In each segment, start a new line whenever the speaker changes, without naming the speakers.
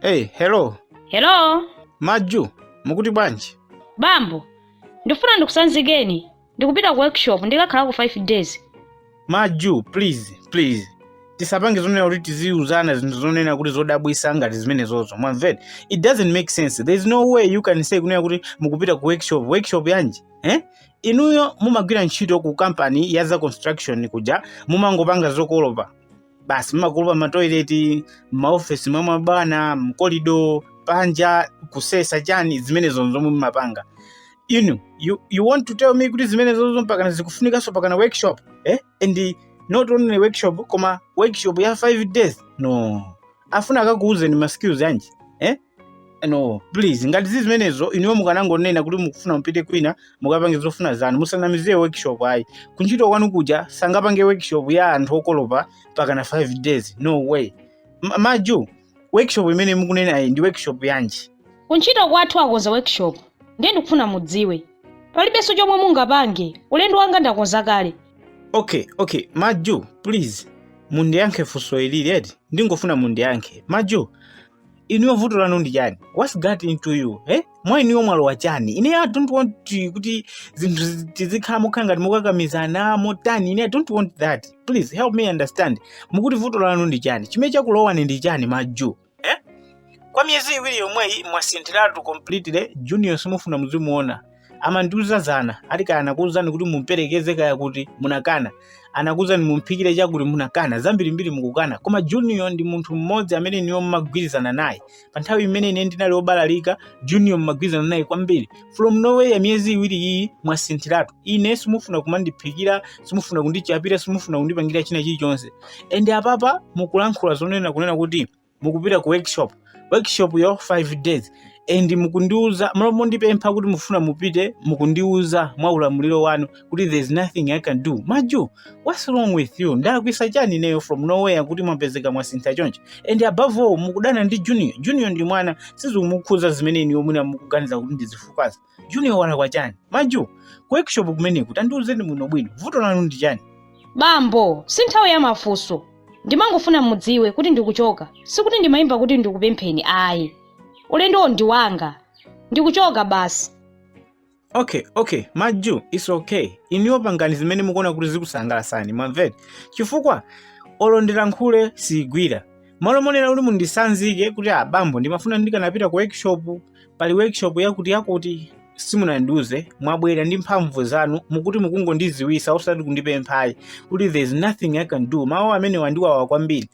Hey, hello.
Hello?
Maju, mukuti bwanji?
Bambo, ndifuna ndikusanzikeni. Ndikupita ku workshop ndikakhalako 5 days. Maju,
please, please. Tisapange zonena kuti tiziuzana zinthu zonena kuti zodabwisa ngati zimenezozo. Mwamva eti, it doesn't make sense. There is no way you can say kunena kuti mukupita ku workshop, workshop yanji? Eh? Inuyo mumagwira ntchito ku company ya za construction kuja, mumangopanga zokolopa. basi mmakolopa matoileti mmaofesi mwa mabwana mkolido panja kusesa chani zimenezo zomwe mmapanga inuyo you, you want to tell me kuti zimenezozo mpakana zikufunikanso pakana workshop eh? and not only workshop koma workshop ya 5 days no afuna akakuuzeni ma skills yanji eh? no please ngati zili zimenezo inuyo mukanangonena kuti mukufuna mupite kwina mukapange zofuna zanu musanamiziye workshop ayi kuntchito kwanu kuja sangapange workshop ya anthu okolopa pakana 5 days no way maju workshop imene mukunenayi ndi workshop yanji kuntchito
kwathu akonza workshop ndiye ndikufuna mudziwe palibenso chomwe mungapange ulendo wanga ndakonza kale okay okay
maju please mundiyankhe funso ilili eti ndingofuna mundiyankhe maju inuyo vuto lanu ndi chani whats got into you eh? mwa inuyo mwalowa chani ine i don't want to- kuti zinthu tizikhala mokhala ngati mokakamizana motani ine i don't want that please help me understand mukuti vuto lanu ndi chani chimene chakulowani ndi chani maju eh? kwa miyezi iwiri yomweyi mwasinthiratu completely junior simufuna muzimuona amandiuza zana ati kaya anakuuzani kuti mumperekeze kaya kuti munakana anakuuzani mumphikire chakuti munakana zambirimbiri mukukana koma junior ndi munthu mmodzi amene inuyo mmagwirizana naye pa nthawi imene ine ndinali obalalika junior mmagwirizana naye kwambiri from nowhere miyezi iwiri iyi mwasinthiratu ine simufuna kumandiphikira simufuna kundichapira simufuna kundipangira china chilichonse and apapa mukulankhula zonena kunena kuti mukupita ku workshop workshop ya 5 days and mukundiuza malo mondipempha kuti mufuna mupite mukundiuza mwa ulamuliro wanu kuti there is nothing i can do maju what's wrong with you ndalakwisa chani ineyo from nowhere kuti mwapezeka mwasintha choncho and above all mukudana ndi junior junior ndi mwana sizikumukhuza zimene inuyo mwina mukuganiza kuti ndi zifukwa zake junior walakwa chani maju ku workshop kumeneku tandiuzeni bwino bwino vuto lanu ndi chani
bambo si nthawi ya mafunso ndimangofuna mudziwe kuti ndikuchoka sikuti ndimayimba kuti ndikupempheni ayi ulendowo ndi wanga ndikuchoka basi
okay okay maju it's okay inuyo pangani zimene mukuona kuti zikusangalasani mwamva eti chifukwa olo ndilankhule sizigwira malo monena kuti mundisanzike kuti abambo ndimafuna ndikanapita ku workshop pali workshop yakuti yakuti simunandiuze mwabwera ndi mphamvu zanu mukuti mukungondiziwisa osati kundipemphayi kuti there is nothing i can do mawu amenewa andiwawa kwambiri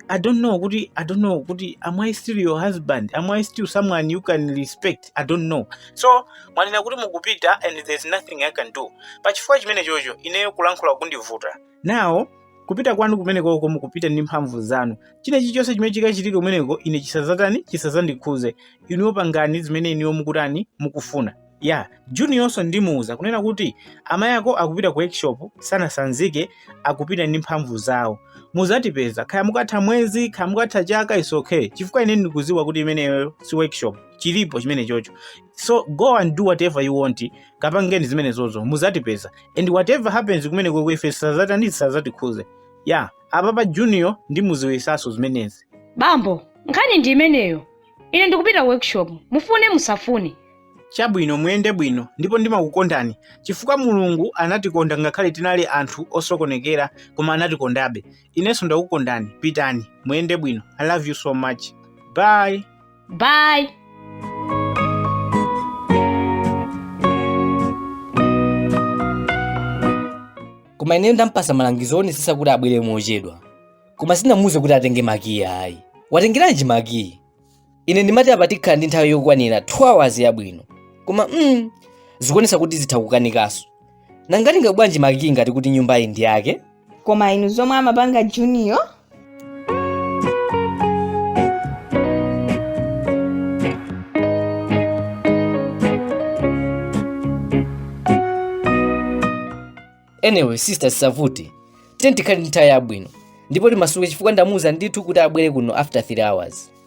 i don't know kuti i don't know kuti am i still your husband am i still someone you can respect i don't know so mwanena kuti mukupita and there is nothing i can do pachifukwa chimene chocho ineyo kulankhula kundivuta now kupita kwanu kumenekoko mukupita ndi mphamvu zanu china chilichonse chimene chikachitike kumeneko ine chisazatani chisazandikhuze inuyo pangani zimene inuyo mukutani mukufuna ya juniornso ndimuuza kunena kuti amayi ako akupita ku workshop sanasanzike akupita ndi mphamvu zawo muzatipeza kaya mukatha mwezi kaya mukatha chaka is okay chifukwa ine ndikuziwa kuti imeneyo si workshop chilipo chimene chocho so go and do whatever you want kapangeni zimenezozo muzatipeza and whatever happens kumenekoko ife zisazatani zisazatikhuze ya apapa junior ndimuziwisaso zimenezi bambo
nkhani ndi imeneyo ine ndikupita workshop mufune musafune
chabwino muyende bwino ndipo ndimakukondani chifukwa mulungu anatikonda ngakhale tinali anthu osokonekera koma anatikondabe inenso ndakukondani pitani muyende bwino i love you so much bye bye
koma ineyo ndampasa malangizo owonesesa kuti abwere mochedwa koma sinamuuze kuti atenge makiyi ayi watengeranji makiyi ine ndimati apa tikhala ndi nthawi yokwanira 2 hours yabwino koma mm, zikuonesa kuti zitha kukanikanso nanga watenga bwanji makiyi ngati kuti nyumbayi ndi yake koma inu
zomwe amapanga
junior anyway sister sisavuti tiyeni tikhale ndi nthawi yabwino ndipo timasuke chifukwa ndamuuza ndithu kuti abwere kuno after 3 hours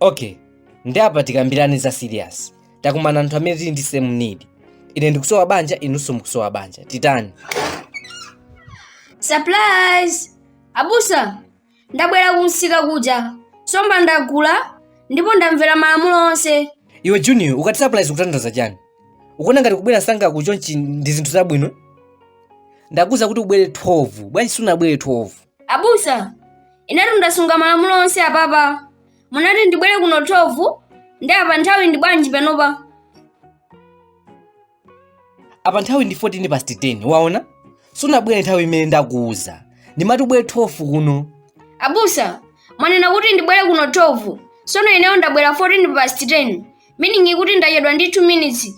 okay nde apa tikambirane za serious takumana anthu amene tili ndi same need ine ndikusowa banja inunso mukusowa banja titani
surprise abusa ndabwera kumsika kuja somba ndagula ndipo ndamvera malamulo onse iwe junior
ukati surprise ukutanthauza chani ukuona ngati kubwera msanga chonchi ndi zinthu zabwino ndakuuza kuti ubwere 12 bwanji sunabwere 12
abusa inetu ndasunga malamulo onse apapa munati ndibwere kuno 12 nde apa nthawi ndi bwanji panopa
apa nthawi ndi 14 past 10 waona sunabwere nthawi imene ndakuuza ndimati ubwere 12 kuno
abusa mwanena kuti ndibwere kuno 12 sono ineyo ndabwera 14 past 10 meaning kuti ndachedwa ndi 2 minutes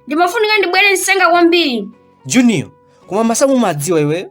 ndimafunika ndibwere msanga kwambiri junior
koma masamu umadziwa iweyo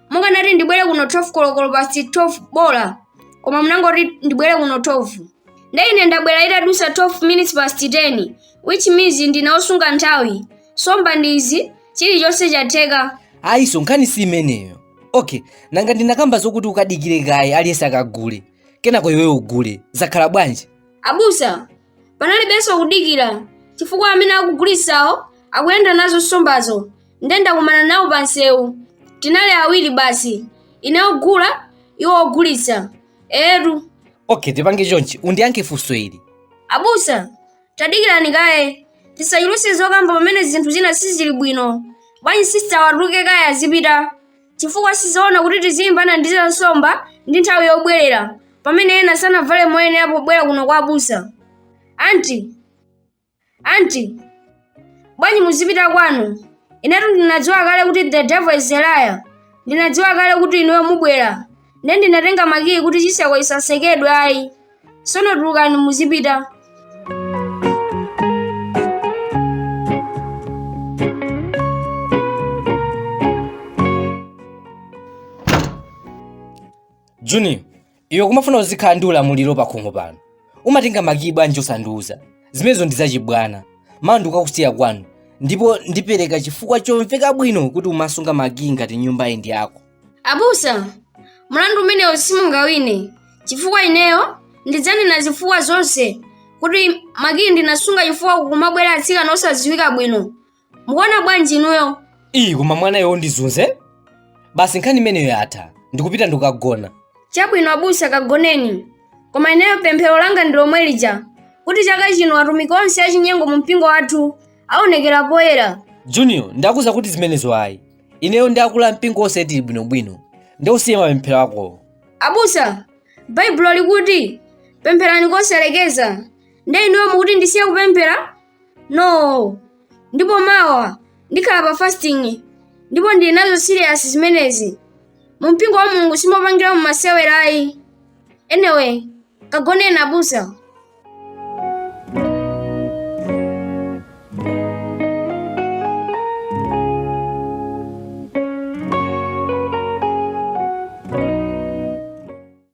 munganati ndibwere kuno 12 kolokolo past 12 bola koma munangoti ndibwere kuno 12 nde ine ndabwera itadusa 12 minutes past 12 which means ndine osunga nthawi nsomba ndi izi chilichonse chatheka ayiso nkhani
si imeneyo okay nanga ndinakamba zokuti ukadikire kaye aliyense akagule kenako iwe ugule zakhala bwanji abusa
panalibenso kudikira chifukwa amene akugulitsawo akuyenda nazo nsombazo nde ndakumana nawo pa nsewu tinali awiri basi ine ogula iwo ogulitsa etu okay tipange
chonchi undiyankhe funso ili abusa
tadikirani kaye tisachuluse zokamba pamene zinthu zina sizili bwino bwanji sisitawa atuluke kaye azipita chifukwa sizoona kuti tizilimbana ndi za nsomba ndi nthawi yobwerera pamene ena sanavale moyenera pobwera kuno kwa abusa anti anti bwanji muzipita kwanu inetu ndinadziwa kale kuti the devil is a liar ndinadziwa kale kuti inuyo mubwera nde ndinatenga makiyi kuti chiseko chisatsekedwe ayi sono tulukani
muzipita junior iwe kumafuna uzikhala ndi ulamuliro pa khomo pano umatenga makiyi bwanji osandiuza zimenezo ndi zachibwana mawa ndikakusiya kwanu ndipo ndipereka chifukwa chomveka bwino kuti umasunga makiyi ngati nyumba iyi ndi yako
abusa mlandu umenewo simungawine chifukwa ineyo ndidzanena zifukwa zonse kuti makiyi ndinasunga chifukwa kumabwera atsikana osadziwika bwino mukuona bwanji inuyo iyi koma
mwanayo ndizunze basi nkhani imeneyo yatha ndikupita ndikagona chabwino abusa
kagoneni koma ineyo pemphero langa ndi lomwe lija kuti chaka chino atumiki onse achinyengo mu mpingo wathu aonekera poyera junior
ndakuuza kuti zimenezo ayi ineyo ndi akulu a mpingo onse tili bwinobwino nde usiye mapemphero akowo abusa
baibulo likuti pempherani kosalekeza nde inuyo mukuti ndisiye kupemphera no ndipo mawa ndikhala pa fasting ndipo ndili nazo serious zimenezi mu mpingo wa mulungu simopangiramo masewera ayi anyway kagoneni abusa